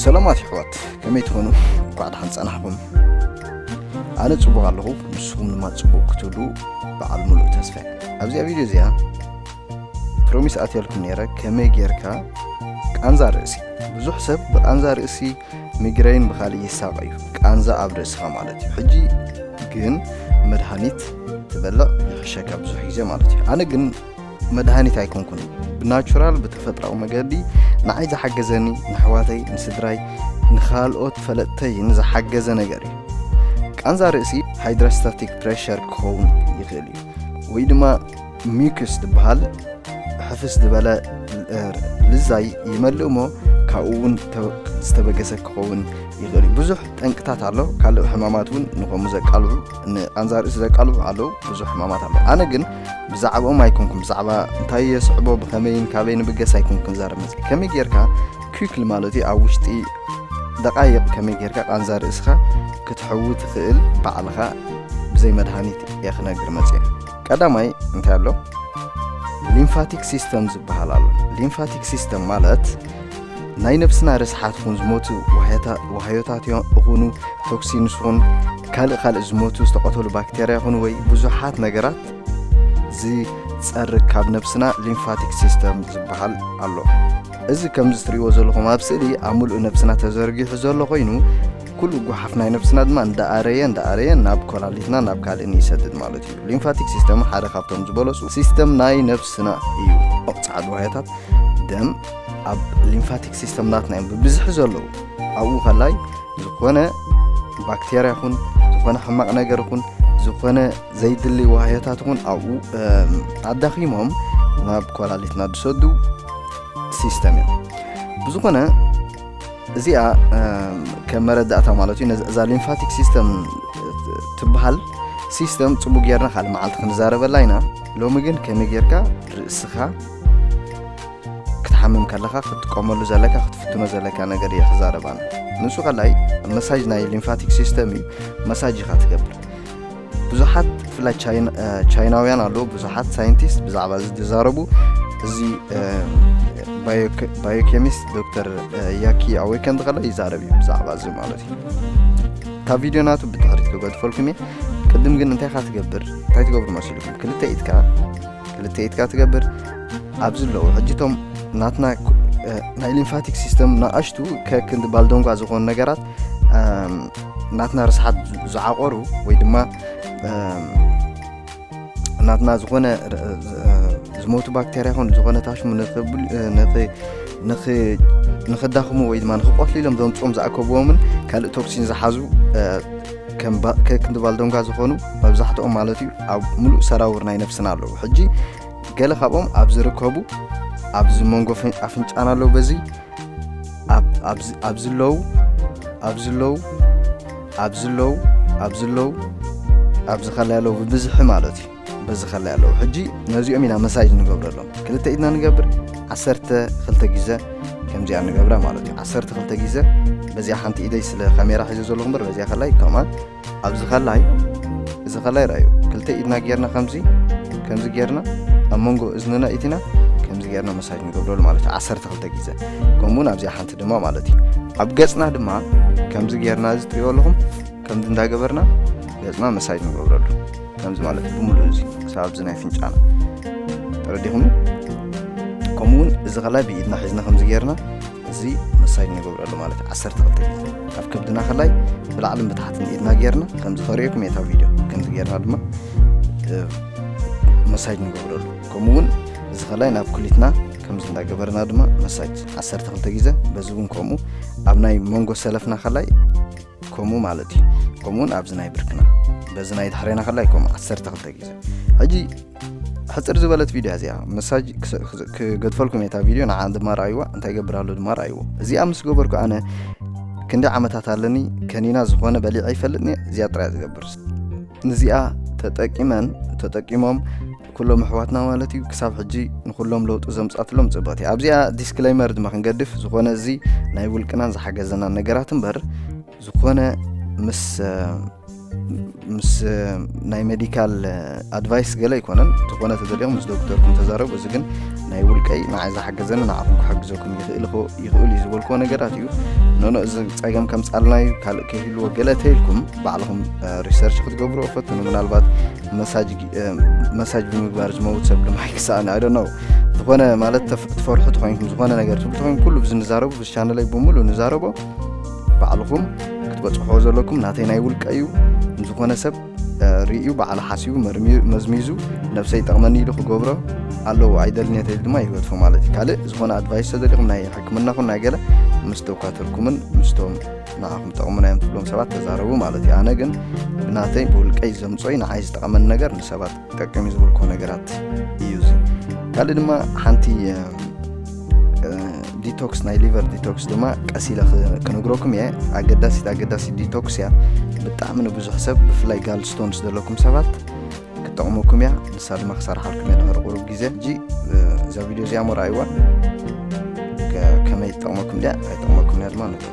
ሰላማት ይሕዋት ከመይ ትኾኑ እንኳዕ ደሓን ጸናሕኹም ኣነ ጽቡቕ ኣለኹ ንስኹም ድማ ጽቡቕ ክትብሉ በዓል ሙሉእ ተስፋ ኣብዚኣ ቪድዮ እዚኣ ፕሮሚስ ኣትያልኩም ነይረ ከመይ ጌርካ ቃንዛ ርእሲ ብዙሕ ሰብ ብቃንዛ ርእሲ ሚግረይን ብካልእ ይሳቀ እዩ ቃንዛ ኣብ ርእስኻ ማለት እዩ ሕጂ ግን መድሃኒት ትበልዕ ይሕሸካ ብዙሕ ግዜ ማለት እዩ ኣነ ግን መድሃኒት ኣይኮንኩን ብናቹራል ብተፈጥራዊ መገዲ ንዓይ ዝሓገዘኒ ንኣሕዋተይ ንስድራይ ንካልኦት ፈለጥተይ ንዝሓገዘ ነገር እዩ ቃንዛ ርእሲ ሃይድራስታቲክ ፕሬሸር ክኸውን ይኽእል እዩ ወይ ድማ ሚክስ ዝበሃል ሕፍስ ዝበለ ልዛይ ይመልእ እሞ ካብኡ እውን ዝተበገሰ ክኸውን ይኽእል እዩ ብዙሕ ጠንቅታት ኣሎ ካልእ ሕማማት እውን ንከምኡ ዘቃልዑ ንቃንዛ ርእሲ ዘቃልዑ ኣለዉ ብዙሕ ሕማማት ኣሎ ኣነ ግን ብዛዕባኦም ኣይኮንኩም ብዛዕባ እንታይ የስዕቦ ብኸመይን ካበይ ንብገስ ኣይኮን ክንዛረብ መፅ ከመይ ጌርካ ኩክሊ ማለት እዩ ኣብ ውሽጢ ደቃይቕ ከመይ ጌርካ ቃንዛ ርእስኻ ክትሕዊ ትኽእል ባዕልኻ ብዘይ መድሃኒት እየ ክነግር መፅ ቀዳማይ እንታይ ኣሎ ሊምፋቲክ ሲስተም ዝበሃል ኣሎ ሊምፋቲክ ሲስተም ማለት ናይ ነብስና ርስሓት ኹን ዝሞቱ ዋህዮታት ይኹኑ ቶክሲንስ ኹን ካልእ ካልእ ዝሞቱ ዝተቐተሉ ባክቴርያ ይኹኑ ወይ ብዙሓት ነገራት ዝጸርግ ካብ ነብስና ሊምፋቲክ ሲስተም ዝበሃል ኣሎ እዚ ከምዚ ትርእይዎ ዘለኹም ኣብ ስእሊ ኣብ ምሉእ ነብስና ተዘርጊሑ ዘሎ ኮይኑ ኩሉ ጉሓፍ ናይ ነብስና ድማ እንዳኣረየ እንዳኣረየ ናብ ኮላሊትና ናብ ካልእን ይሰድድ ማለት እዩ ሊምፋቲክ ሲስተም ሓደ ካብቶም ዝበለፁ ሲስተም ናይ ነብስና እዩ ፃዕዱ ዋህያታት ደም ኣብ ሊምፋቲክ ሲስተምናትና እዮም ብብዝሒ ዘለዉ ኣብኡ ከላይ ዝኾነ ባክቴርያ ይኹን ዝኾነ ሕማቕ ነገር ይኹን ዝኾነ ዘይድሊ ዋህዮታት እውን ኣብኡ ኣዳኺሞም ናብ ኮላሊትና ዝሰዱ ሲስተም እዮም ብዝኾነ እዚኣ ከም መረዳእታ ማለት እዩ እዛ ሊምፋቲክ ሲስተም ትበሃል ሲስተም ፅቡቅ ጌርና ካልእ መዓልቲ ክንዛረበላ ኢና ሎሚ ግን ከመይ ጌርካ ርእስኻ ክትሓምም ከለኻ ክትጥቀመሉ ዘለካ ክትፍትኖ ዘለካ ነገር እየ ክዛረብ ኣነ ንሱ ካልኣይ መሳጅ ናይ ሊምፋቲክ ሲስተም እዩ መሳጅ ኢኻ ትገብር ብዙሓት ብፍላይ ቻይናውያን ኣለዉ ብዙሓት ሳይንቲስት ብዛዕባ እዚ ዝዛረቡ እዚ ባዮኬሚስት ዶክተር ያኪ ኣወይከን ዝኸለ ይዛረብ እዩ ብዛዕባ እዚ ማለት እዩ እታ ቪድዮ ናቱ ብድሕሪት ክገድፈልኩም እየ ቅድም ግን እንታይ ካ ትገብር እንታይ ትገብሩ መሲልኩም ክልተ ኢትካ ክልተ ኢድካ ትገብር ኣብዚ ኣለዉ ሕጂ እቶም ናትና ናይ ሊምፋቲክ ሲስተም ናኣሽቱ ከክንዲ ባልዶንጓ ዝኾኑ ነገራት ናትና ርስሓት ዝዓቆሩ ወይ ድማ ናትና ዝኾነ ዝሞቱ ባክተርያ ኹን ዝኾነ ታሽሙ ንክዳኽሙ ወይ ድማ ንክቆትሉ ኢሎም ዘምፅኦም ዝኣከብዎምን ካልእ ቶክሲን ዝሓዙ ከም ባ- ከ- ክንዲ ባልዶንጋ ዝኾኑ መብዛሕትኦም ማለት እዩ ኣብ ሙሉእ ሰራውር ናይ ነፍስና ኣለዉ ሕጂ ገለ ካብኦም ኣብ ዝርከቡ ኣብዚ መንጎ ፍን- ኣፍንጫና ኣለዉ በዚ ኣብ- ኣብዚ- ኣብዚ ኣለዉ ኣብዚ ኣለዉ ኣብዚ ኣለዉ ኣብዚ ኣለዉ ኣብዚ ከላይ ኣለዉ ብብዝሒ ማለት እዩ በዚ ከላይ ኣለዉ ሕጂ ነዚኦም ኢና መሳጅ ንገብረሎም ክልተ ኢድና ንገብር ዓሰርተ ክልተ ግዘ ከምዚኣ ንገብራ ማለት እዩ ዓሰርተ ክልተ ግዘ በዚኣ ሓንቲ ኢደይ ስለ ካሜራ ሒዘ ዘለኹ እምበር በዚኣ ከላይ ከምኣ ኣብዚ ከላይ እዚ ከላይ ርኣዩ ክልተ ኢድና ጌርና ከምዚ ከምዚ ጌርና ኣብ መንጎ እዝንና ኢትና ከምዚ ጌርና መሳጅ ንገብረሉ ማለት እዩ ዓሰርተ ክልተ ግዘ ከምኡውን ኣብዚኣ ሓንቲ ድማ ማለት እዩ ኣብ ገፅና ድማ ከምዚ ጌርና እዚ ትሪኦ ኣለኹም ከምዚ እንዳገበርና ገፅና መሳጅ ንገብረሉ ከምዚ ማለት እዩ ብምሉእ እዚ ክሳብ ኣብዚ ናይ ፍንጫና ተረዲኹም ከምኡ እውን እዚ ከላይ ብኢድና ሒዝና ከምዚ ጌርና እዚ መሳይድ ንገብረሉ ማለት እዩ ዓሰርተ ክልተ ግዜ ካብ ከብድና ከላይ ብላዕልን ብታሕትን ኢድና ጌርና ከምዚ ከርእየኩም የታ ቪድዮ ከምዚ ጌርና ድማ መሳጅ ንገብረሉ ከምኡ እውን እዚ ከላይ ናብ ኩሊትና ከምዚ እንዳገበርና ድማ መሳጅ ዓሰርተ ክልተ ግዜ በዚ እውን ከምኡ ኣብ ናይ መንጎ ሰለፍና ከላይ ከምኡ ማለት እዩ ከምኡ እውን ኣብዚ ናይ ብርክና በዚ ናይ ድሕሬና ከላይ ከምኡ ዓሰርተ ክልተ ግዜ ሕጂ ሕፅር ዝበለት ቪድዮ እዚኣ መሳጅ ክገድፈልኩም እየ እታ ቪድዮ ንዓ ድማ ረኣይዋ እንታይ ገብር ኣሎ ድማ ረኣይዎ እዚኣ ምስ ገበርኩ ኣነ ክንደይ ዓመታት ኣለኒ ከኒና ዝኾነ በሊዐ ይፈልጥኒ እዚኣ ጥራያ ዝገብር ንዚኣ ተጠቂመን ተጠቂሞም ኩሎም ኣሕዋትና ማለት እዩ ክሳብ ሕጂ ንኩሎም ለውጢ ዘምጻትሎም ጽብቕቲ ኣብዚኣ ዲስክሌመር ድማ ክንገድፍ ዝኾነ እዚ ናይ ውልቅናን ዝሓገዘናን ነገራት እምበር ዝኾነ ምስ ምስ ናይ ሜዲካል ኣድቫይስ ገለ ኣይኮነን ዝኾነ ተዘሊኦም ምስ ዶክተርኩም ተዛረቡ እዚ ግን ናይ ውልቀይ ንዓይ ዝሓገዘኒ ንዓኹም ክሓግዘኩም ይኽእል ይኽእል እዩ ዝበልክዎ ነገራት እዩ ኖኖ እዚ ፀገም ከምፃልና እዩ ካልእ ከይህልዎ ገለ ተይልኩም ባዕልኹም ሪሰርች ክትገብርዎ ፈትኑ ምናልባት መሳጅ መሳጅ ብምግባር ዝመውት ሰብ ድማ ኣይክሳእን ኣይ ነው ዝኾነ ማለት ትፈርሑ ተኮይንኩም ዝኾነ ነገር ትብሉ ተኮይን ኩሉ ብዚ ንዛረቡ ብዚ ቻነለይ ብምሉ ንዛረቦ ባዕልኹም ክትበፅሖ ዘለኩም ናተይ ናይ ውልቀ እዩ ንዝኾነ ሰብ ርእዩ በዓል ሓሲቡ መዝሚዙ ነብሰይ ጠቕመኒ ኢሉ ክገብሮ ኣለዎ ኣይደልኔተ ኢሉ ድማ ይወትፎ ማለት እዩ ካልእ ዝኾነ ኣድቫይስ ተዘሊኹም ናይ ሕክምና ኹን ናይ ገለ ምስ ደኳትርኩምን ምስቶም ንዓኹም ጠቕሙና እዮም ትብሎም ሰባት ተዛረቡ ማለት እዩ ኣነ ግን ብናተይ ብውልቀይ ዘምፆይ ንዓይ ዝጠቐመኒ ነገር ንሰባት ጠቅም እዩ ዝብልኮ ነገራት እዩ እዚ ካልእ ድማ ሓንቲ ዲቶክስ ናይ ሊቨር ዲቶክስ ድማ ቀስ ኢለ ክነግረኩም እየ ኣገዳሲት ኣገዳሲ ዲቶክስ እያ ብጣዕሚ ንብዙሕ ሰብ ብፍላይ ጋልስቶንስ ዘለኩም ሰባት ክጠቕመኩም እያ ንሳ ድማ ክሰርሓልኩም እየ ድሕሪ ቁሩብ ግዜ እጂ እዛ ቪድዮ እዚኣ ሞ ረኣይዋ ከመይ ትጠቕመኩም ድያ ኣይጠቕመኩም እያ ድማ ንገሩ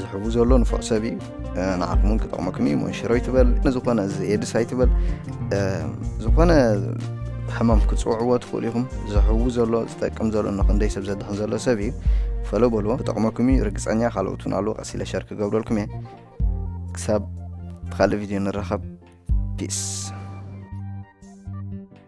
ዝሕቡ ዘሎ ንፉዕ ሰብ እዩ ንዓኹም እውን ክጠቕመኩም እዩ መንሽሮ ይትበል ንዝኾነ እዚ ኤድስ ኣይትበል ዝኾነ ሕማም ክፅውዕዎ ትኽእሉ ኢኹም ዝሕቡ ዘሎ ዝጠቅም ዘሎ ንክንደይ ሰብ ዘድሕን ዘሎ ሰብ እዩ ፈሎ በሎ ክጠቕመኩም እዩ ርግፀኛ ካልኦት እውን ኣለዎ ቀሲለ ሸር ክገብረልኩም እየ ክሳብ ካልእ ቪድዮ ንራኸብ ፒስ